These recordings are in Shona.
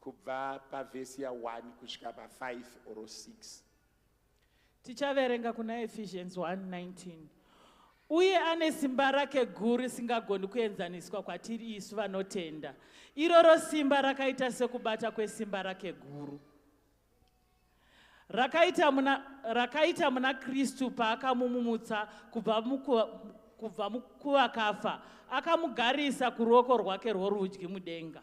Kubva pavhesi ya 1 kusvika pa 5 or 6. Tichaverenga kuna Ephesians 1:19. Uye ane simba rake guru risingagoni kuenzaniswa kwatiri isu vanotenda. Iroro simba rakaita sekubata kwesimba rake guru. Rakaita muna, rakaita muna Kristu paakamumumutsa kubva mukuva, kubva mukuvakafa akamugarisa kuruoko rwake rworudyi mudenga.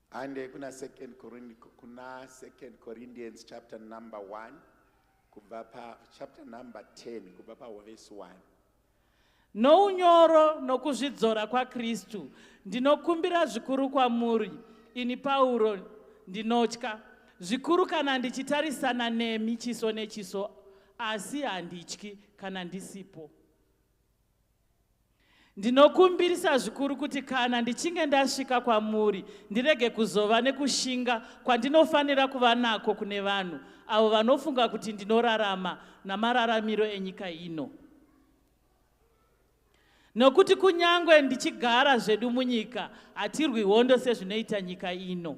Hande kuna second Corinthians kuna second Corinthians chapter number 1 kubva pa chapter number 10 kubva pa verse 1. Nounyoro nokuzvidzora kwaKristu ndinokumbira zvikuru kwamuri ini Pauro ndinotya zvikuru kana ndichitarisana nemi chiso nechiso asi handityi kana ndisipo. Ndinokumbirisa zvikuru kuti kana ndichinge ndasvika kwamuri ndirege kuzova nekushinga kwandinofanira kuva nako kune vanhu avo vanofunga kuti ndinorarama namararamiro enyika ino. Nokuti kunyange ndichigara zvedu munyika, hatirwi hondo sezvinoita nyika ino.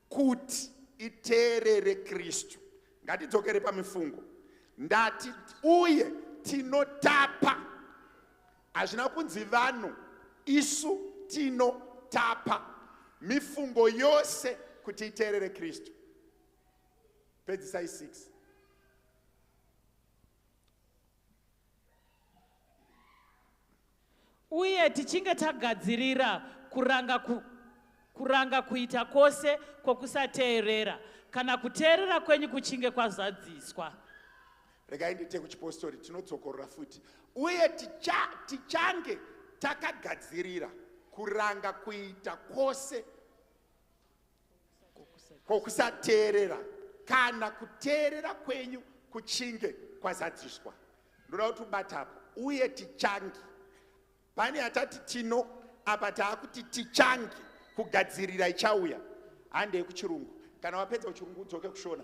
Kuti iteerere Kristu. Ngatidzokere pamifungo. Ndati uye tinotapa. Hazvina kunzi vanhu, isu tinotapa. Mifungo yose kuti iteerere Kristu. Pedzisai 6. Uye tichinge tagadzirira kuranga, ku, kuranga kuita kwose kwokusateerera, kana kuteerera kwenyu kuchinge kwazadziswa. Regai ndiite kuchipostori, tinodzokorora futi. Uye ticha, tichange takagadzirira kuranga kuita kwose kwokusateerera kana kuteerera kwenyu kuchinge kwazadziswa ndoda kuti ubata apo uye tichangi pane atati tino apa taakuti tichangi kugadzirira ichauya handei kuchirungu kana wapedza kuchirungu udzoke kushona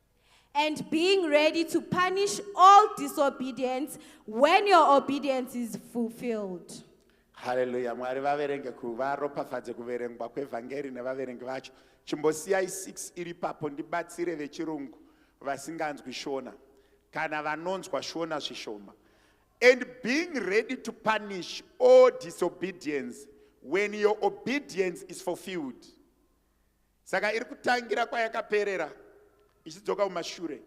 and being ready to punish all disobedience when your obedience is fulfilled. Hallelujah. Mwari vaverenge kuvaropafadze kuverengwa kwevhangeri nevaverengi vacho. Chimbosiyai 6 iri papo ndibatsire vechirungu vasinganzwi shona kana vanonzwa shona zvishoma. And being ready to punish all disobedience when your obedience is fulfilled. Saka iri kutangira kwayakaperera ichidzoka kumashure.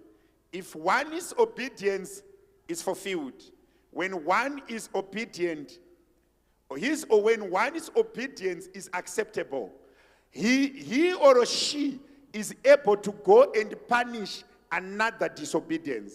If one is obedience is fulfilled. When one is obedient, his or when one is obedience is acceptable. He, he or she is able to go and punish another disobedience.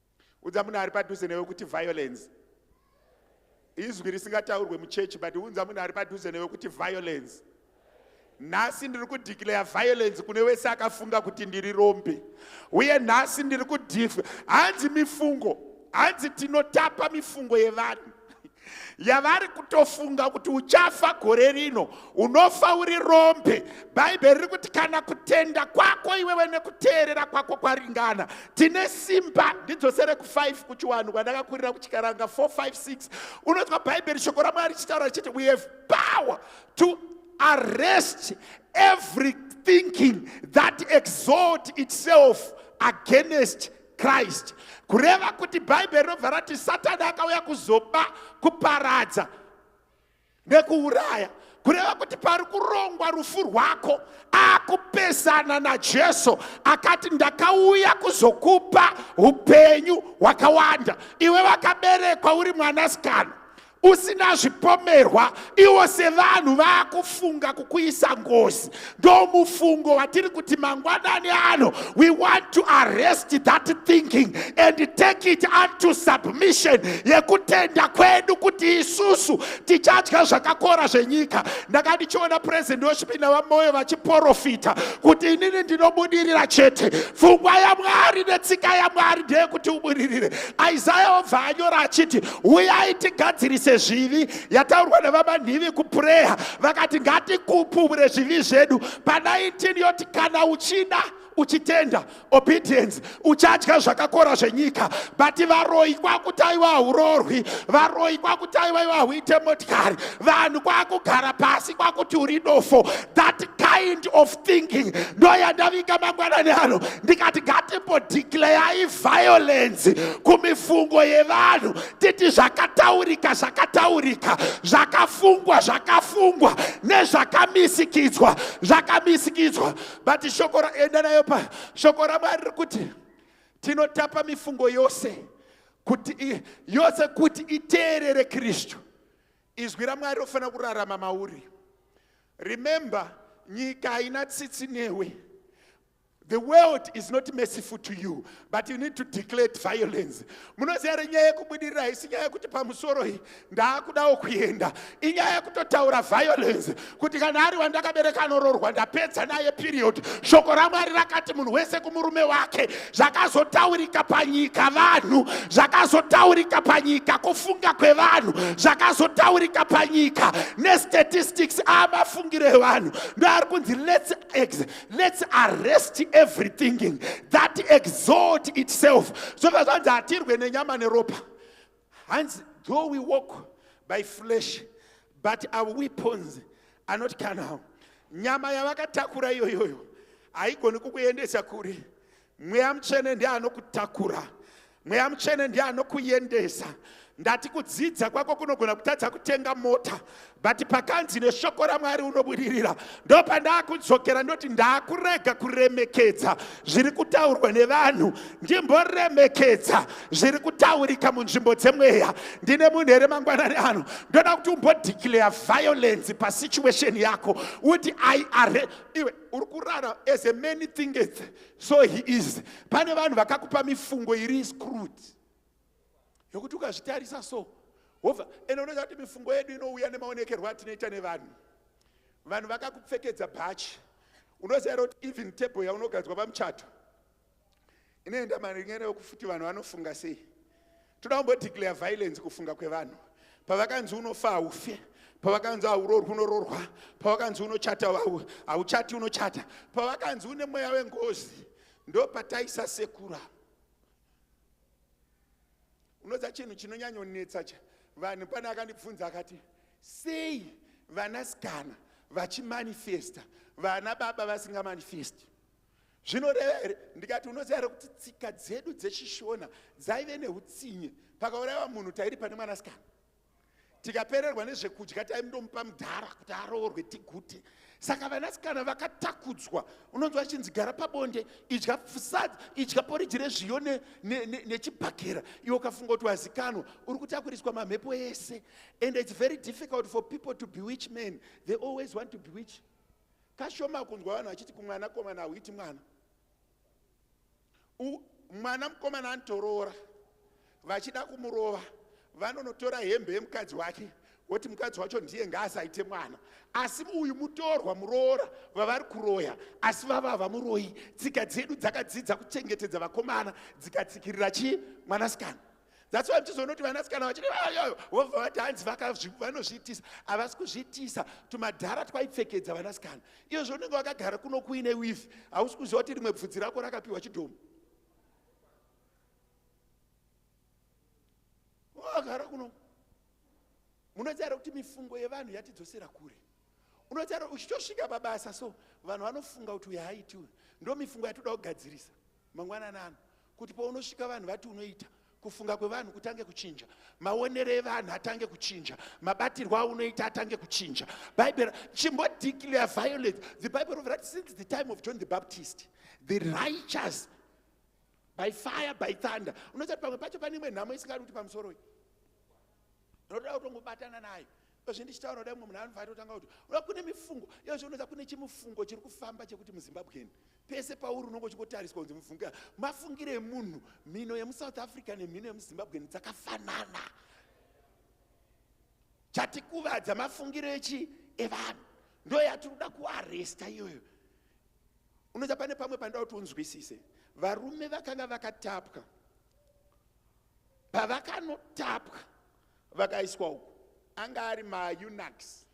Unza munhu ari padhuze newe kuti violence. Izwi risingataurwe muchechi but unza munhu ari padhuze newe kuti violence. nhasi ndiri kudeclare violence kune wese akafunga kuti ndiri rombe uye nhasi ndiri kudif hanzi mifungo hanzi tinotapa mifungo yevanhu yavari kutofunga kuti uchafa gore rino unofa uri rombe bhaibheri riri kuti kana kutenda kwako iwewe nekuteerera kwako kwaringana tine simba ndidzosere ku5 kuchiwanhu kwandakakurira kuchikaranga 456 unonzwa bhaibheri shoko ramwari richitaura richiti we have power to arrest every thinking that exalt itself against Christ kureva kuti bhaibheri rinobva rati satani akauya kuzoba kuparadza nekuuraya kureva kuti pari kurongwa rufu rwako akupesana najesu akati ndakauya kuzokupa upenyu hwakawanda iwe vakaberekwa uri mwanasikana usina zvipomerwa iwo sevanhu vakufunga kukuisa ngozi ndomufungo watiri kuti mangwanani ano we want to arrest that thinking and take it unto submission yekutenda kwedu kuti isusu tichadya zvakakora zvenyika ndaka ndichiona president wesvipi navamoyo vachiporofita kuti inini ndinobudirira chete pfungwa yamwari netsika yamwari ndeyekuti ubudirire isaya obva anyora achiti uyai tigadzirise zvivi yataurwa nevamanhivi kupureya vakati ngatikupumure zvivi zvedu pa19 yoti kana uchida uchitenda obedience uchadya zvakakora zvenyika but varoyi kwakutaiwa haurorwi varoyi kwakutaiwa iwa huite motikari vanhu kwakugara pasi kwakuti uri dofo that kind of thinking ndoyandavinga mangwanani ano ndikati ngatimbodeclayayi violence kumifungo yevanhu titi zvakataurika zvakataurika zvakafungwa zvakafungwa nezvakamisikidzwa zvakamisikidzwa but shoko enda nayo pa shoko ramwari riri kuti tinotapa mifungo yose kuti yose kuti iteerere kristu Izwi raMwari rofanira kurarama mauri. Remember, nyika haina tsitsi newe. The world is not merciful to you, but you need to declare violence. Munoziva here nyaya yekubudirira haisi nyaya yekuti pamusoro iyi ndaakudawo kuenda, inyaya yekutotaura violence. kuti kana ari wandakabereka anororwa ndapedza naye period shoko ramwari rakati munhu wese kumurume wake zvakazotaurika panyika vanhu zvakazotaurika panyika kufunga kwevanhu zvakazotaurika panyika nestatistics amafungiro evanhu ndoari kunzi let's, ex, let's arrest everything that exalt itself zvobva zvanzi hatirwe nenyama neropa hanzi though we walk by flesh but our weapons are not carnal nyama yavakatakura iyoyoyo haigoni kukuendesa kure mweya mutsvene ndiye anokutakura mweya mutsvene ndiye anokuendesa ndati kudzidza kwako kunogona kutadza kutenga mota but pakanzi neshoko ramwari unobudirira ndopandaakudzokera ndoti ndaakurega kuremekedza zviri kutaurwa nevanhu ndimboremekedza zviri kutaurika munzvimbo dzemweya ndine munhu here mangwanani ano ndoda kuti umbodeclare violence pasituation yako uti i are iwe uri kurara as a many thing so he is pane vanhu vakakupa mifungo iri screwed yokuti ukazvitarisa so wobva ende unoziva kuti mifungo yedu inouya nemaonekerwo atinoita nevanhu vanhu vakakupfekedza bhachi unoziva here kuti even table yaunogadzwa pamuchato inoenda maringene yokufuti vanhu vanofunga sei toda kumbodeclare violence kufunga kwevanhu pavakanzi unofa haufe pavakanzi haurorwi unororwa pavakanzi unochata hauchati unochata pavakanzi une mweya wengozi ndo pataisa sekura unoza chinhu chinonyanyonetsa cha vanhu pane akandibvunza akati sei vanasikana vachimanifesta vana baba vasingamanifesti zvinoreva here ndikati unoziva here kuti tsika dzedu dzechishona dzaive neutsinye pakaurayiwa munhu tairi pane mwanasikana tikapererwa nezvekudya taindomupa mudhara kuti aroorwe tigute saka vanasikana vakatakudzwa unonzwa achinzi gara pabonde idya sad idya poriji rezviyo nechibhakera ne, ne, iwe ukafunga kuti wazikanwa uri kutakuriswa mamhepo ese and its very difficult for people to bewitch men they always want to bewitch kashoma kunzwa vanhu vachiti kumwanakomana hauiti mwana U, mwana mukomana anotoroora vachida kumurova vanonotora hembe yemukadzi wake woti mukadzi wacho ndiye ngaasaite mwana asi uyu mutorwa muroora vavari kuroya asi vava vamuroyi tsika dzedu dzakadzidza kuchengetedza vakomana dzikatsikirira chii mwanasikana That's why mchizoona kuti vanasikana vachiti ayoyo vobva vati hanzi vanozviitisa havasi kuzviitisa tumadhara twaipfekedza vanasikana iyo zvaunenge wakagara kuno kuine wifi hausi kuziva kuti rimwe bvudzi rako rakapiwa chidhomo wakagara kuno munotaura kuti mifungo yevanhu yatidzosera kure unotaura uchitosvika pabasa so vanhu vanofunga kuti uyo haaitiwe ndo mifungo yatoda kugadzirisa Mangwanani ano kuti paunosvika vanhu vati unoita kufunga kwevanhu kutange kuchinja maonero evanhu atange kuchinja mabatirwo aunoita atange kuchinja bible chimbodeclare violence the bible of that since the time of john the baptist the righteous by fire by thunder unoita kuti pamwe pacho pane imwe nhamo isingadi kuti pamusoro iyi ndinotoda kutongobatana nayo izvi ndichitaura kudai mumwe munhu anobva atotanga kuti uda kune mifungo iyozvo unoza kune chimufungo chiri kufamba chekuti muzimbabwen pese pauri unonge uchingotariswa kunzi mufungo mafungire emunhu mhino yemusouth africa nemhino yemuzimbabwen dzakafanana chatikuvadza mafungiro echi evanhu ndo yatiri kuda kuaresta iyoyo unoza pane pamwe pandakuti unzwisise varume vakanga vakatapwa pavakanotapwa vakaiswa uku anga ari maunaks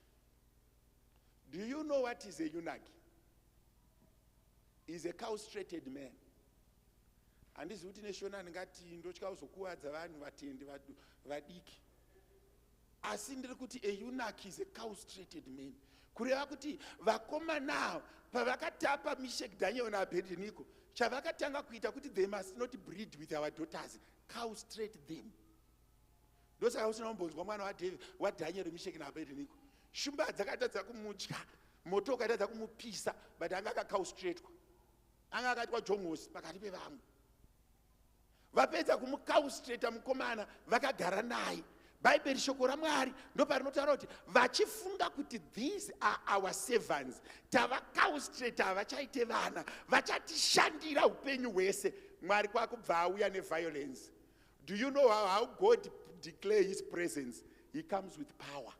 do you know what is a unak is a caustrated man handizi kuti neshona ndingati ndotya kuzokuvadza vanhu vatendi vadiki asi ndiri kuti a eunuch is a caustrated man kureva kuti vakomana avo pavakatapa mishek daniel naabhedheniko chavakatanga kuita kuti they must not breed with our daughters caustrate them ndosaka usina kumbonzwa mwana wadave wadaniel mishek naabhedheniko shumba dzakatadza kumudya moto ukatadza kumupisa but anga akacaustratewa anga akaitwa jongosi pakati pevamwe vapedza kumukaustreta mukomana vakagara naye bhaibheri shoko ramwari ndoparinotaura kuti vachifunga kuti these are our servants tavakaustreta havachaite vana vachatishandira upenyu hwese mwari kwakubva auya neviolence do you know how, how god declare his presence he comes with power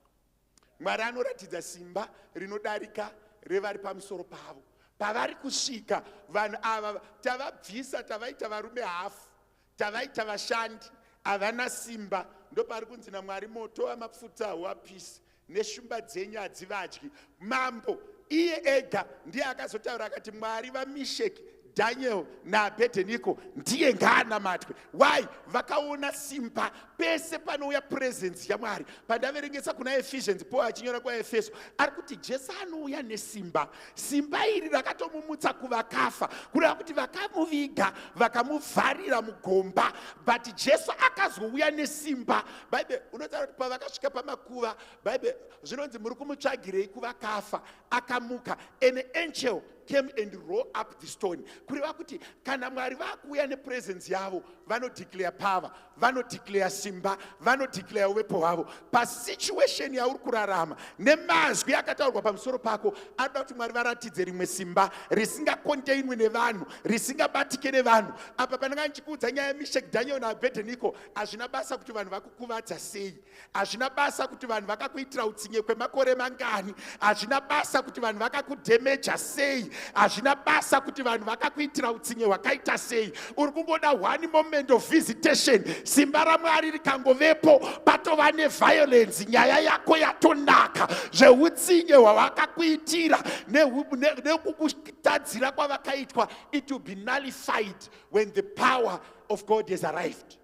Mwari anoratidza simba rinodarika revari pamusoro pavo. Pavari kusvika vanhu ava tavabvisa, tavaita varume hafu, tavaita vashandi, havana simba. Ndopaari kunzi naMwari, moto wamapfuta hauapisi, neshumba dzenyu hadzivadyi. Mambo iye ega ndiye akazotaura akati, Mwari vaMisheki Daniel naAbedenico ndiye ngaanamatwe. Why? Vakaona simba pese panouya presence yaMwari. Pandaverengesa kuna Ephesians, Paul achinyora kwaEfeso, ari kuti Jesu anouya nesimba. Simba iri rakatomumutsa kuvakafa, kureva kuti vakamuviga, vakamuvharira mugomba, but Jesu akazouya nesimba. Bible unotaura kuti pavakasvika pamakuva, Bible zvinonzi muri kumutsvagirei kuvakafa, akamuka. An angel came and roll up the stone kureva kuti kana mwari vakuuya nepresence yavo vanodeclare power vanodeclare simba vanodeclare uvepo hwavo pasituation yauri kurarama nemazwi akataurwa pamusoro pako anoda kuti mwari varatidze rimwe simba risingakontainwi nevanhu risingabatike nevanhu apa pananga ndichikuudza nyaya yemishek daniel naabhedheniko hazvina basa kuti vanhu vakukuvadza sei hazvina basa kuti vanhu vakakuitira utsinye kwemakore mangani hazvina basa kuti vanhu vakakudhemeja sei hazvina basa kuti vanhu vakakuitira utsinye hwakaita sei uri kungoda one moment of visitation simba ramwari rikangovepo patova neviolence nyaya yako yatonaka zveutsinye hwavakakuitira nekukutadzira ne, ne kwavakaitwa it will be nullified when the power of god has arrived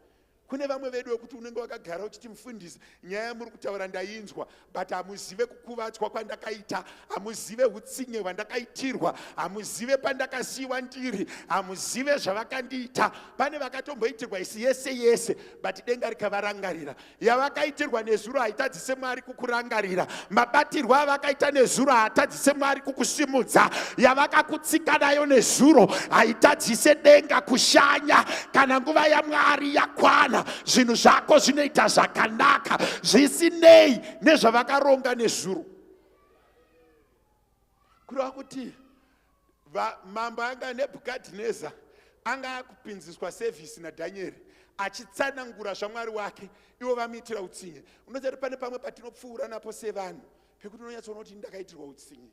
Kune vamwe vedu wekuti unenge wakagara uchiti mufundisi nyaya yamuri kutaura ndainzwa but hamuzive kukuvadzwa kwandakaita hamuzive utsinye hwandakaitirwa hamuzive pandakasiyiwa ndiri hamuzive zvavakandiita pane vakatomboitirwa isi yese yese but denga rikavarangarira yavakaitirwa nezuro haitadzi haatadzise mwari kukurangarira mabatirwo avakaita nezuro haatadzise mwari kukusimudza yavakakutsika nayo nezuro haitadzise denga kushanya kana nguva yamwari yakwana zvinhu zvako zvinoita zvakanaka zvisinei nezvavakaronga nezuro kureva kuti Va, mambo anga nebhukadhineza anga akupinziswa sevhisi nadhanyeri achitsanangura zvamwari wake ivo vamuitira utsinye unoziva kuti pane pamwe patinopfuura napo sevanhu pekuti unonyatsoona kuti ndakaitirwa utsinye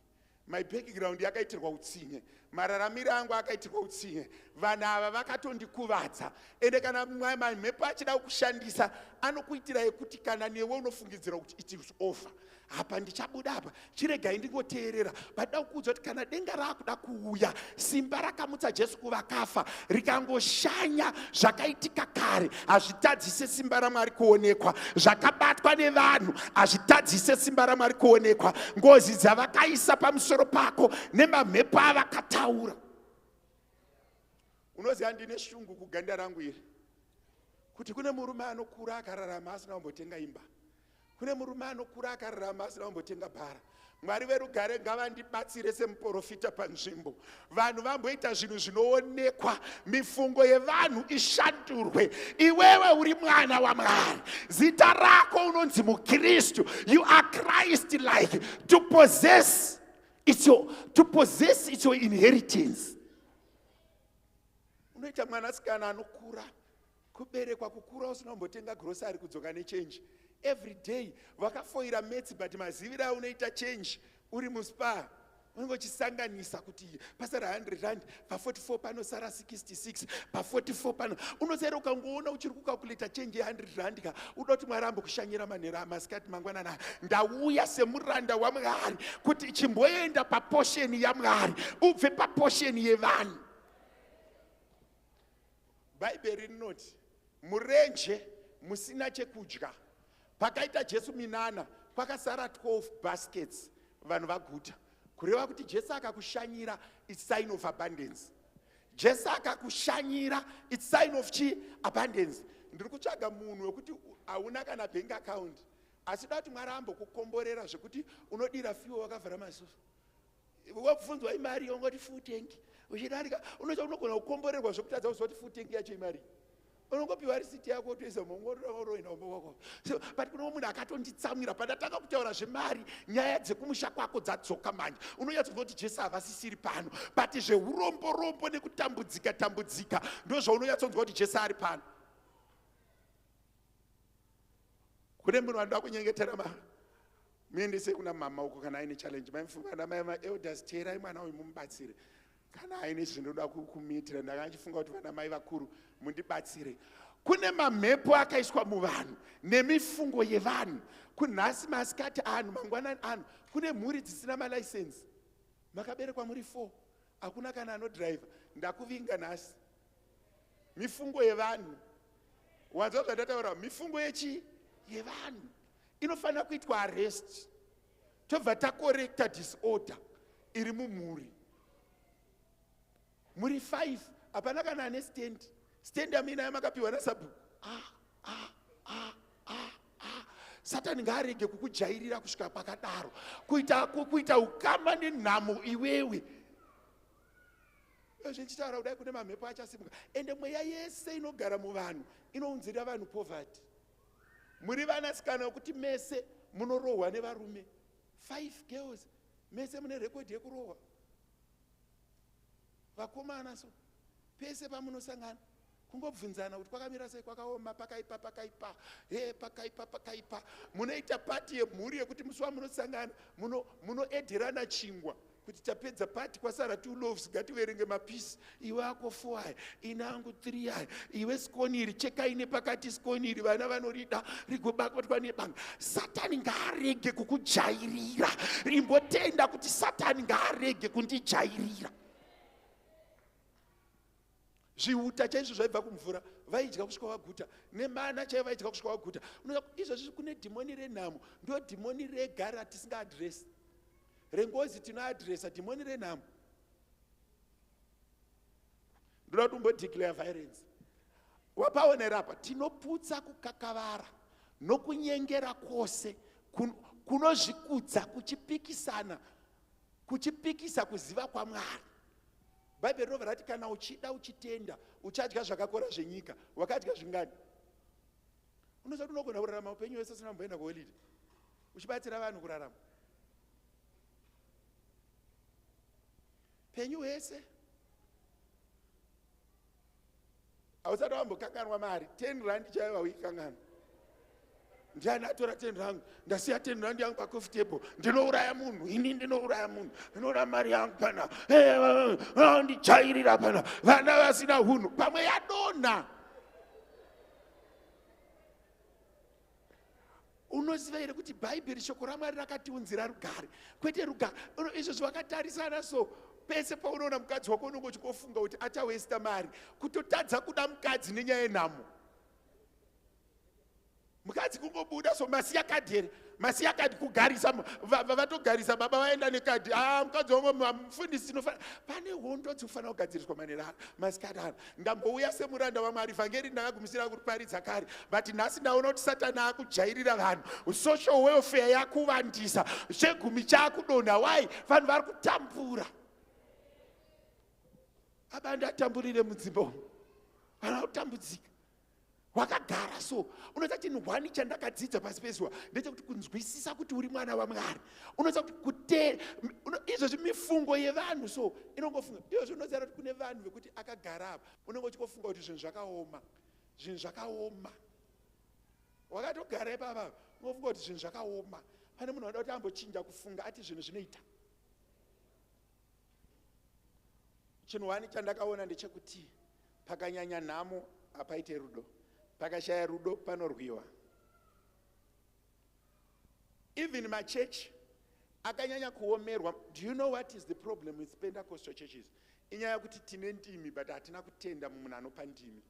my background yakaitirwa utsinye mararamiro angu akaitirwa utsinye vanhu ava vakatondikuvadza ende kana mhepo achida kushandisa anokuitira yekuti kana newe unofungidzira kuti it is over apa ndichabuda apa chiregai ndingoteerera vaida kukuudza kuti kana denga raakuda kuuya simba rakamutsa jesu kuvakafa rikangoshanya zvakaitika kare hazvitadzise simba ramwari kuonekwa zvakabatwa nevanhu hazvitadzise simba ramwari kuonekwa ngozi dzavakaisa pamusoro pako nemamhepo avakataura unoziva ndine shungu kuganda rangu iri kuti kune murume anokura akararama asina kumbotenga imba Kune murume anokura akararama asina kumbotenga bhara. Mwari verugare ngavandibatsire semuporofita panzvimbo. Vanhu vamboita zvinhu zvinoonekwa, mifungo yevanhu ishandurwe. Iwewe uri mwana waMwari. Zita rako unonzi muKristu. You are Christ like. To possess it's your, to possess it's your inheritance. Unoita mwanasikana anokura kuberekwa kukura usina kumbotenga grocery kudzoka nechange every day vakafoira metsi but maziviro aunoita change uri muspa unenge uchisanganisa kuti pasara 100 rand pa44 panosara 66 pa44 pano unosaira ukangoona uchiri kukakuleta change ye100 rand ka uda kuti mwari ambokushanyira manhero amasikati mangwanana ndauya semuranda wamwari kuti chimboenda paposheni yamwari ubve paposheni yevanhu Bhaibheri rinoti murenje musina chekudya pakaita Jesu minana kwakasara 12 baskets vanhu vaguta kureva kuti Jesu akakushanyira it's sign of abundance Jesu akakushanyira it's sign of chi abundance ndiri kutsvaga munhu wekuti hauna kana bank account asi da kuti Mwari ambokukomborera zvekuti unodira fiwe wakavhara maziso wabvunzwa imari ongoti full tank uchidarika unoita unogona kukomborerwa zvekutadza kuzoti full tank yacho imari unongopiwa risiti yako toisa mongoroenda umba wako so but kuno munhu akatonditsamwira pandatanga kutaura zvemari nyaya dzekumusha kwako dzadzoka manje unonyatso kunoti jesu havasisiri pano but zveurombo rombo nekutambudzika tambudzika ndozvaunonyatsonzwa kuti jesu ari pano kune munhu vanoda kunyengetera ma muendese kuna mama uko kana aine challenge maimfungana mai maelders teerai mwana uyu mumubatsire kana aine zvinoda kumiitira ndanga achifunga kuti vana mai vakuru mundibatsire kune mamhepo akaiswa muvanhu nemifungo yevanhu kunhasi masikati anhu mangwanani anhu kune mhuri dzisina malaisensi makaberekwa muri four hakuna kana anodriver ndakuvinga nhasi mifungo yevanhu wanzwa zvandataura mifungo yechi yevanhu inofanira kuitwa arrest tobva takorekta disorder iri mumhuri muri five hapana kana ane stand stand amina yamakapiwa nasabhuku ah, ah, ah, ah, ah. satani ngaarege kukujairira kusvika pakadaro kuita, kuita ukama nenhamo iwewe Izvezvi ndichitaura kudai kune mamhepo achasimuka ende mweya yese inogara muvanhu inounzira vanhu poverty. Muri vanasikana wekuti mese munorohwa nevarume. Five girls mese mune record yekurohwa. Vakomana so pese pamunosangana kungobvunzana kuti kwakamira sei kwakaoma pakaipa pakaipa he pakaipa pakaipa munoita pati yemhuri yekuti musi wamunosangana munoedherana muno chingwa kuti tapedza pati kwasara two loves ngativerenge mapisi iwe ako four aya ine angu three aya iwe skoni iri chekai nepakati skoni iri vana vanorida rigobatwa nebanga satani ngaarege kukujairira rimbotenda kuti satani ngaarege kundijairira zvihuta chaizvo zvaibva kumvura vaidya kusvika vaguta nemana chaivo vaidya kusvika vaguta unoa izvozvi kune dhimoni renhamo ndo dhimoni rega ratisinga adresi rengozi tinoadresa dhimoni renhamo ndoda kuti umbodeclare violence wapaonera apa tinoputsa kukakavara nokunyengera kwose kunozvikudza kuchipikisana kuchipikisa kuziva kwamwari bhaibheri rinobva rati kana uchida uchitenda uchadya zvakakora zvenyika wakadya zvingani unoziva kuti unogona kurarama upenyu hwese usina kumboenda kuholide uchibatsira vanhu kurarama penyu hwese hausati wambokanganwa mari ten rand chaiyo vauikanganwa ndiani atora ten rangu ndasiya ten rand yangu pacofi table ndinouraya munhu ini ndinouraya munhu ndinouraya mari yangu pana ndijairira pana vana vasina hunhu pamwe yadonha unoziva here kuti bhaibheri shoko ramwari rakatiunzira rugare kwete rugare izvozvo vakatarisana so pese paunoona mukadzi wako unenge uchikofunga kuti achawesta mari kutotadza kuda mukadzi nenyaya yenhamo mukadzi kungobuda so masiya kadhi here masiya kadhi kugarisa vatogarisa baba vaenda nekadhi a ah, mukadzi wangu mufundisi tinofanira pane hondo dzinofanira kugadziriswa manerano masikati ano ndangouya semuranda wamwari vhangeri ndakagumisira kuriparidza kare but nhasi ndaona kuti satani akujairira vanhu social welfare yakuvandisa chegumi chakudonha wai vanhu vari kutambura aba ndatamburire mudzimba umu vana kutambudzika wakagara so unoziva chinhu hwani chandakadzidza pasi pezuva ndechekuti kunzwisisa kuti uri mwana wamwari unoziva kuti kuteera izvozvi mifungo yevanhu so inongofunga iyozvi unoziva kuti kune vanhu vekuti akagara apa unenge uchingofunga kuti zvinhu zvakaoma zvinhu zvakaoma wakatogara ipapa unongofunga kuti zvinhu zvakaoma pane munhu anoda kuti ambochinja kufunga ati zvinhu zvinoita chinhu wani chandakaona ndechekuti pakanyanya nhamo hapaite rudo pakashaya rudo panorwiwa even machechi akanyanya kuomerwa do you know what is the problem with pentecostal churches inyaya yekuti tine ndimi but hatina kutenda mumunhu anopa ndimi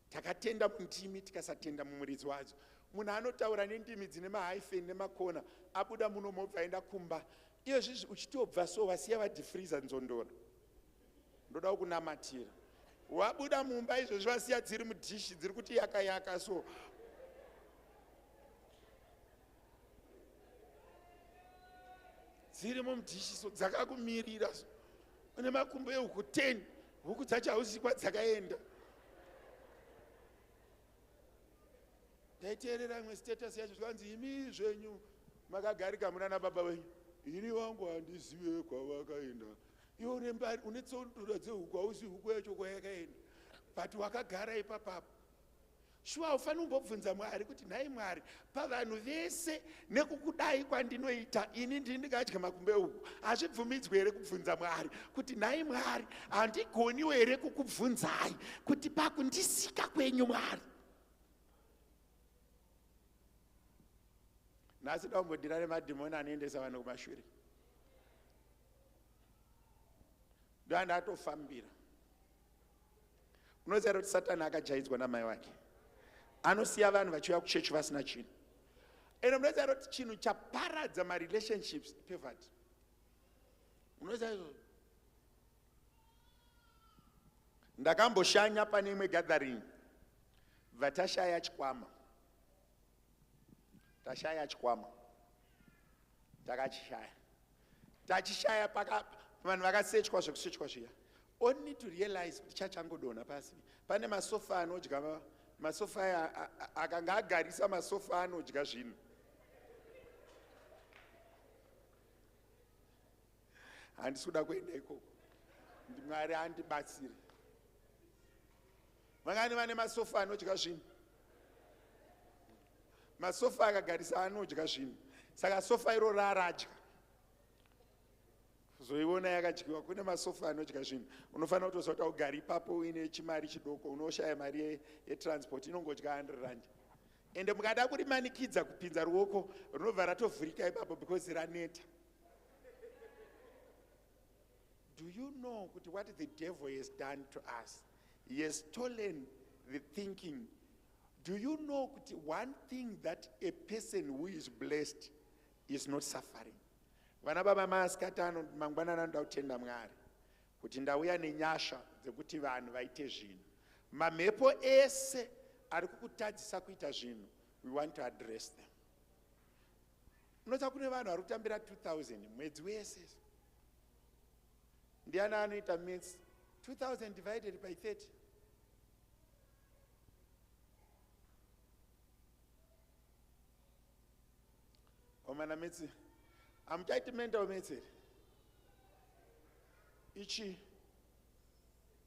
takatenda mundimi tikasatenda mumuridzi wadzo munhu anotaura nendimi dzine mahyphen nemakona abuda muno mobva aenda kumba iyo zvizvi uchitobva so vasiya vadifriza nzondora ndoda kunamatira wabuda mumba izvozvi vasiya dziri mudhishi dziri kuti yaka yaka so dziri mumudhishiso dzakakumirira so une makumbo ehuku 10 huku dzacho hauzivi kwadzakaenda ndaiteerera imwe status yacho zvikanzi imi zvenyu makagarika muna nababa wenyu ini wangu handizive kwavakaenda iwe urembari une tsondura dzehuku hauzivi huku yacho kwayakaenda but wakagara ipapapo Shuwa haufaniri kumbobvunza Mwari kuti nhai Mwari pavanhu vese nekukudai kwandinoita ini ndini ndingadya makumbe uku. Hazvibvumidzwe here kubvunza Mwari kuti nhai Mwari handigoniwo here kukubvunzai kuti pakundisika kwenyu Mwari. Nhasi daumbodira nemadhimoni anoendesa vanhu kumashure. Ndoanda atofambira. unoziva here kuti satani akajaidzwa namai wake anosiya vanhu vachiuya kuchechi vasina chinhu ende munoziva here kuti chinhu chaparadza marelationships pevati unoziva izvozvo ndakamboshanya pane imwe gathering vatashaya chikwama tashaya chikwama takachishaya tachishaya paka vanhu vakasechwa zvekusechwa zviya all need to realize kuti chachangodonha pasi pane masofa anodya masofa aya akanga agarisa masofa anodya zvinhu handisi kuda kuenda ikoko ndimwari andibatsire Vangani vane masofa anodya zvinhu? Masofa akagarisa anodya zvinhu. Saka sofa iro raradya. Zoiona yakadyiwa kune masofa anodya zvinhu. Unofanira kutoziva kuti ugari ipapo uine chimari chidoko unoshaya mari yetransport inongodya 100 rand. Ende mukada kurimanikidza kupinza ruoko runobva ratovhurika ipapo because raneta. Do you know kuti what the devil has done to us? He has stolen the thinking. Do you know kuti one thing that a person who is blessed is not suffering? Vana baba masikati ano mangwanana anoda kutenda Mwari kuti ndauya nenyasha dzekuti vanhu vaite zvinhu. Mamhepo ese ari kukutadzisa kuita zvinhu, we want to address them. unoziva kune vanhu vari kutambira 2000 mwedzi wese ndiani anoita mats 2000 divided by 30 omana metsi amuchaiti mental metseri ichii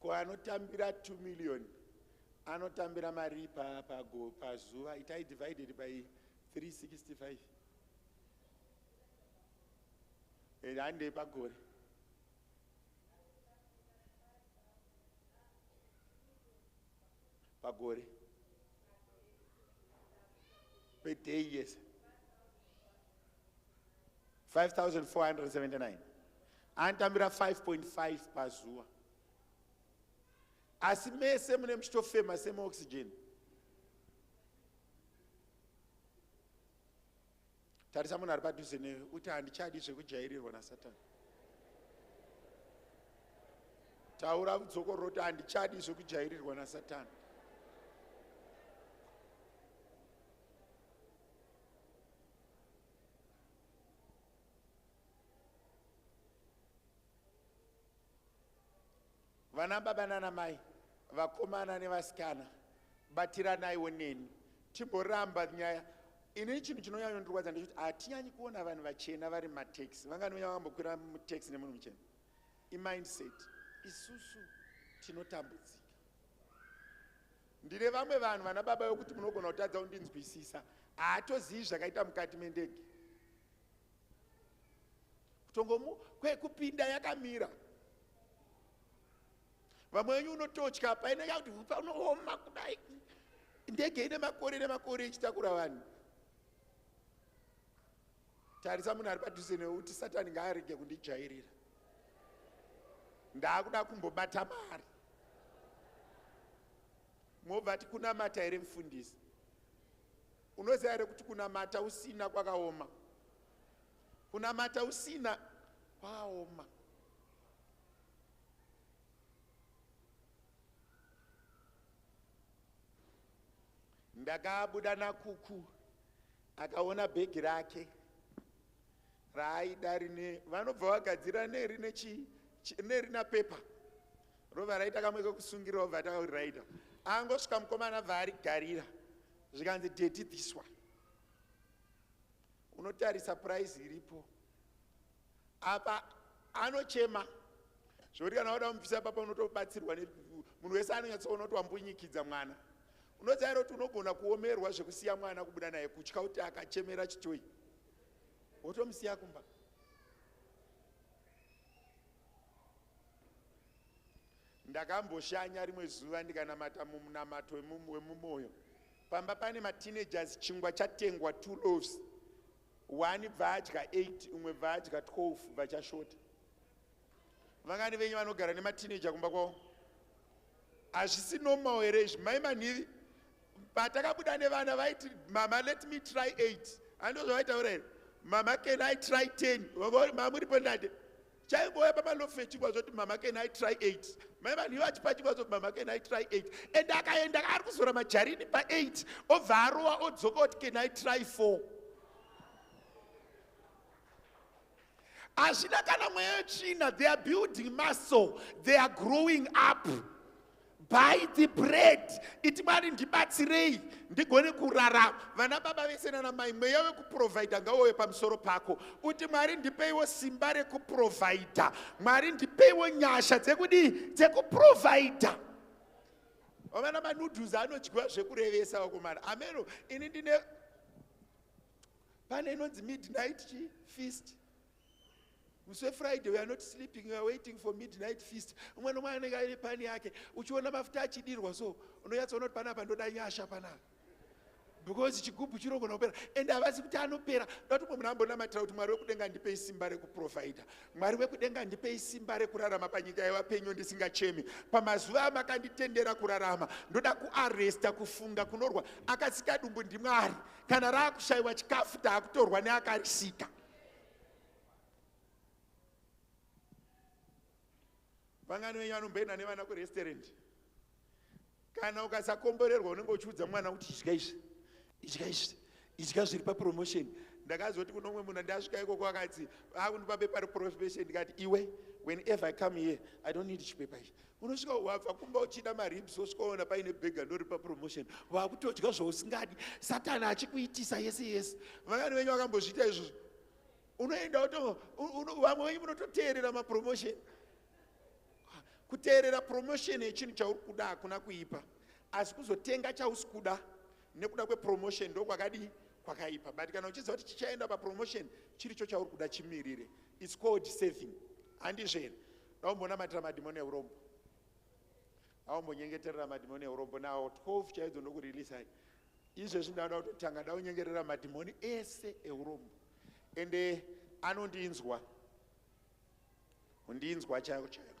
ko anotambira 2 million anotambira marii pago pazuva itai divided by 365 and handei pagore pagore per day yes 5479 anotambira 5.5 pazuva asi mese mune muchitofema semaoxygen tarisa munhu ari padhuze newe uti handichadi zvekujairirwa nasatani taura vudzokororo kuti handichadi zvekujairirwa nasatani vana baba nana mai vakomana nevasikana batiranaiwo neni timboramba nyaya ini chinhu chinonyanya kundirwadza ndechekuti hatinyanyi kuona vanhu vachena vari mataxi vanganonyanya vambokwira mutaxi nemunhu muchena imindset isusu tinotambudzika ndine vamwe vanhu vana baba vekuti munogona kutadza kundinzwisisa haatozivi zvakaita mukati mendege kutongomu kwekupinda yakamira vamwe venyu unototya paine yakuti hupa unooma kudai ndege ine makore nemakore ichitakura vanhu Tarisa munhu ari padhuze newe uti satani ngaarege kundijairira. Ndaakuda kumbobata mari. Mobva ati kunamata here mfundisi? Unoziva here kuti kunamata usina kwakaoma? Kunamata usina kwakaoma. Ndakabuda nakuku Akaona bhegi rake raaida rine vanobva vagadzira neri nechi neri na paper rova raita kamwe kekusungirira obva atauri raita angosvika mukomana bva arigarira zvikanzi deti this one unotarisa price iripo apa anochema zvekuti kana wada kumubvisa papa unotobatsirwa munhu wese anonyatsoona kuti wambunyikidza mwana unozaira kuti unogona kuomerwa zvekusiya mwana kubuda naye kutya kuti akachemera chitoyi wotomusiya kumba ndakamboshanya rimwe zuva ndikanamata mumunamato wemumoyo pamba pane mateenagers chingwa chatengwa two loves 1 bva adya 8 umwe bva adya 12 vachashota vangani venyu vanogara nematineja kumba kwavo hazvisi normal here izvi mai manhivi patakabuda nevana vaiti mama let me try 8 andozvavaitaura here mama can i try 10 mamuripo ndade chaimbouya pamalofe chingwa zvoti mama can i try eight mai vanhu ivo achipa chingwa zvoti mama can i try eight and akaenda ari kuzora majarini paeight obva arowa odzoka oti can i try four hazvina kana mweya yetsvina they are building muscle they are growing up Buy the bread. Iti Mwari ndibatsirei ndigone kurarama. Vana baba vese nana mai mweya wekuprovider ngauye pamusoro pako. Uti Mwari ndipeiwo simba rekuprovider. Mwari ndipeiwo nyasha dzekudii? Dzekuprovider. Vamana manoodles anodyiwa zvekurevesa vakomana. Ameno ini ndine pane inonzi midnight feast. musi wefriday weare not sleeping weare waiting for midnight feast umwe nomwe anenge aine pani yake uchiona mafuta achidirwa so unonyatsoona kuti panapa ndoda nyasha panapa because chigubhu chinogona kupera and havazi kuti anopera ndatomwe munhu ambonamatira kuti mwari wekudenga ndipei simba rekuprovidha mwari wekudenga ndipei simba rekurarama panyika yevapenyu ndisingachemi pamazuva amakanditendera kurarama ndoda kuaresta kufunga kunorwa akasika dumbu ndimwari kana raakushayiwa chikafu taakutorwa neakarisika vangani venyu vanomboenda nevana kurestaurant kana ukasakomborerwa unenge uchiudza mwana kuti idya izvi idya izvi idya zviri papromotion ndakazoti kuno umwe munhu ndasvika ikoko akati akundipa bepa reprofession ndikati iwe whenever i come here i don't need chipepa ichi unosvika wabva kumba uchida maribs wosvika waona paine bhega ndoripa promotion wakutodya zvausingadi satani achikuitisa yese yese vangani venyu vakambozviita izvozvo unoenda woto vamwe venyu munototeerera mapromotion kuteerera promotion yechinhu chauri kuda hakuna kuipa asi kuzotenga chausi kuda nekuda kwepromotion ndokwakadii kwakaipa but kana uchiziva kuti chichaenda papromotion chiri cho chauri kuda chimirire its called saving handizvo here daumbonamatira madhimoni eurombo aumbonyengeterera madhimoni eurombo nawo 12 chaidzo ndokureleasai izvezvi ndanoda kutotanga daunyengerera madhimoni ese eurombo ende anondinzwa undinzwa chaiko chaiko